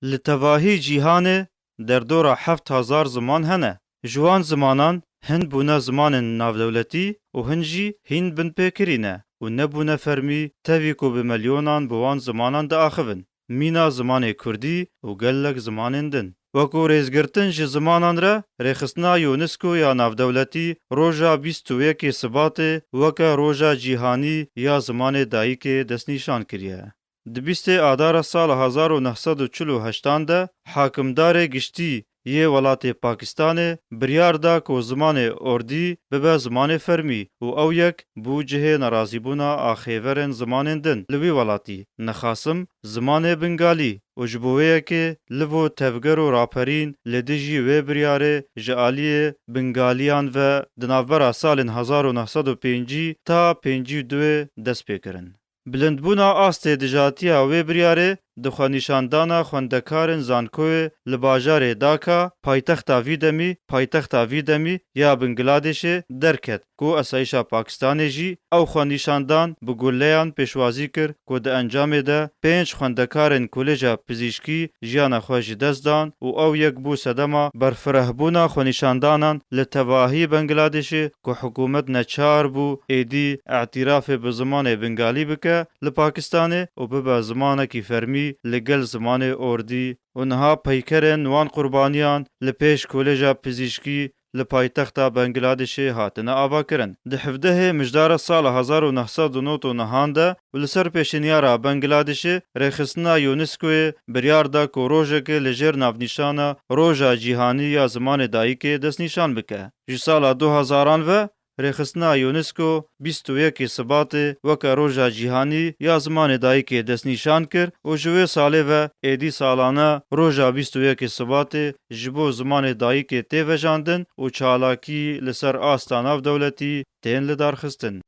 Li tevahî cîhanê derdora heft hezar ziman hene. Ji wan zimanan hin bûne zimanên navdewletî û hin jî hîn binpêkirî ne û nebûne fermî tevî ku bi milyonan bi wan zimanan diaxivin. Mîna zimanê kurdî û gelek zimanên din. Wekû rêzgirtin ji zimanan re, rêxistina UNESCO ya navdewletî roja bîst û yekê Sibatê weke Roja Cîhanî ya Zimanê Dayikê destnîşan kiriye. Di bîstê adara sala hezar û neh sed û çil û heştan de hakimdarê giştî yê welatê Pakistanê biryar da ku zimanê Ordî bibe zimanê fermî û ew yek bû cihê nerazîbûna axêverên zimanên din li wî welatî. Nexasim zimanê Bingalî û ji bo wê yekê livo tevger û raperîn li dijî wê biryarê ji aliyê Bingalîyan ve di navbera salên hezar û neh sed û pêncî ta pêncî û duê dest pê kirin. Bilindbûna astê dijatiya wê biryarê di xwenîşandana xwendekarên zankoyê li bajarê Daka, paytexta vî demî paytexta vî demî ya Bingladêşê derket ku Esayîşa Pakistanê jî ew xwenîşandan bi guleyan pêşwazî kir ku di encamê de pênc xwendekarên Kolêja Pizîşkî jiyana xwe ji dest dan û ew yek bû sedema berfirehbûna xwenîşandanan li tevahî Bengladêşê ku hikûmet neçar bû êdî îtîrafê bi zimanê Bingalî bike li Pakistanê û bibe zimanekî fermî li gel zimanê Ordî û niha peykerên wan qurbaniyan li pêş Kolêja Pizîşkî li paytexta Bengiladêşê hatine avakirin. Di hevdehê mijdara sala hezar û neh sed û nod û nehan de û li ser pêşîniyara Bengladişê Rêxistina UNESCO'yê biryar da ku rojekê li jêr navnîşana Roja Cîhanî ya Zimanê Dayikê destnîşan bike. Ji sala du hezaran ve Rêxistina UNESCO bîst û yekê Sibatê weke Roja Cîhanî ya Zimanê Dayikê destnîşan kir û ji wê salê ve êdî salane roja bîst û yekê Sibatê ji bo zimanê dayikê tê vejandin û çalakî li ser asta navdewletî tên lidarxistin.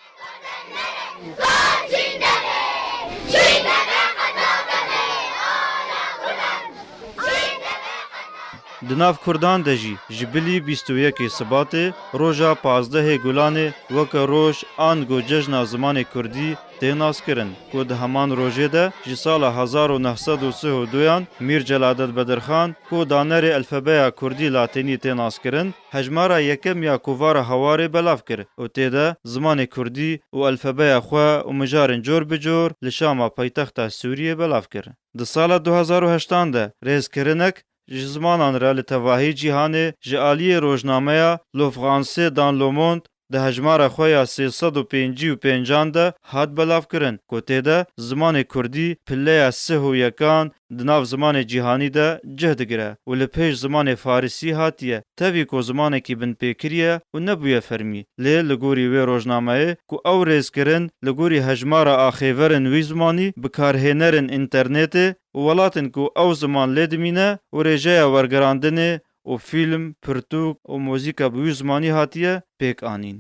Di nav Kurdan de jî ji bilî bîst û yekê Sibatê roja pazdehê Gulanê weke roj ango cejna zimanê Kurdî tê naskirin ku di heman rojê de ji sala hezar û neh sed û sih û duyan Mîr Celadet Bedirxan ku danerê elfebeya Kurdî-Latînî tê naskirin Hejmara yekem ya kovara Hawarê belav kir û tê de zimanê kurdî û elfebeya xwe û mijarên cor bi cor li Şama paytexta Sûriyê belav kir. Di sala du hezar û heştan de rêzkirinek ji zimanan re li tevahî cîhanê ji aliyê rojnameya Lofransê dan Lomond Di hejmara xwe ya sê sed û pêncî û pênc an de hat belavkirin ku tê de zimanê kurdî pileya sih û yekan di nav zimanê cîhanî de cih digire û li pêş zimanê farisî hatiye, tevî ku zimanekî binpêkirî ye û nebûye fermî. Lê li gorî wê rojnameyê ku ew rêz kirin li gorî hejmara axêverên wî zimanî bikarhênerên înternetê û welatên ku ew ziman lê dimîne û rêjeya wergirandinê û fîlm, pirtûk û muzîka bi wî zimanî hatiye pêk anîn.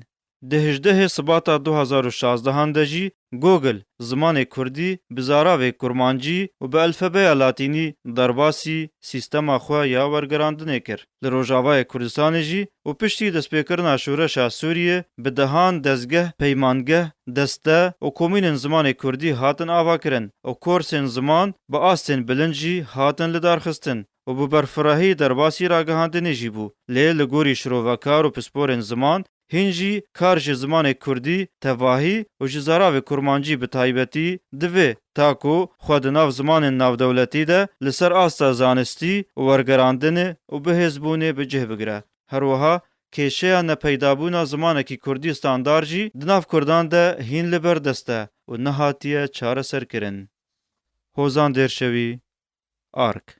Di hejdehê Sibata du hezar û şazdeh an de jî Google zimanê kurdî bi zaravê kurmancî û bi elfebeya latînî derbasî sîstema xwe ya wergerandinê kir li Rojavayê Kurdistanê jî û piştî destpêkirina şoreşa Sûriyê bi dehan dezgeh, peymangeh, deste û komînên zimanê kurdî hatin avakirin û korsên ziman bi astên bilind jî hatin lidarxistin. û bi berfirehî derbasî ragihandinê jî bû, lê li gorî şirovekar û pisporên ziman, hîn jî kar ji zimanê kurdî tevahî û ji zaravê kurmancî bi taybetî divê, ta ku xwe di nav zimanên navdewletî de li ser asta zanistî û wergerandinê û bihêzbûnê bi cih bigire. Her wiha kêşeya nepeydabûna zimanekî kurdî standar jî di nav kurdan de hîn li ber dest e û nehatiye çareserkirin. Hozan Dêrşewî, ark.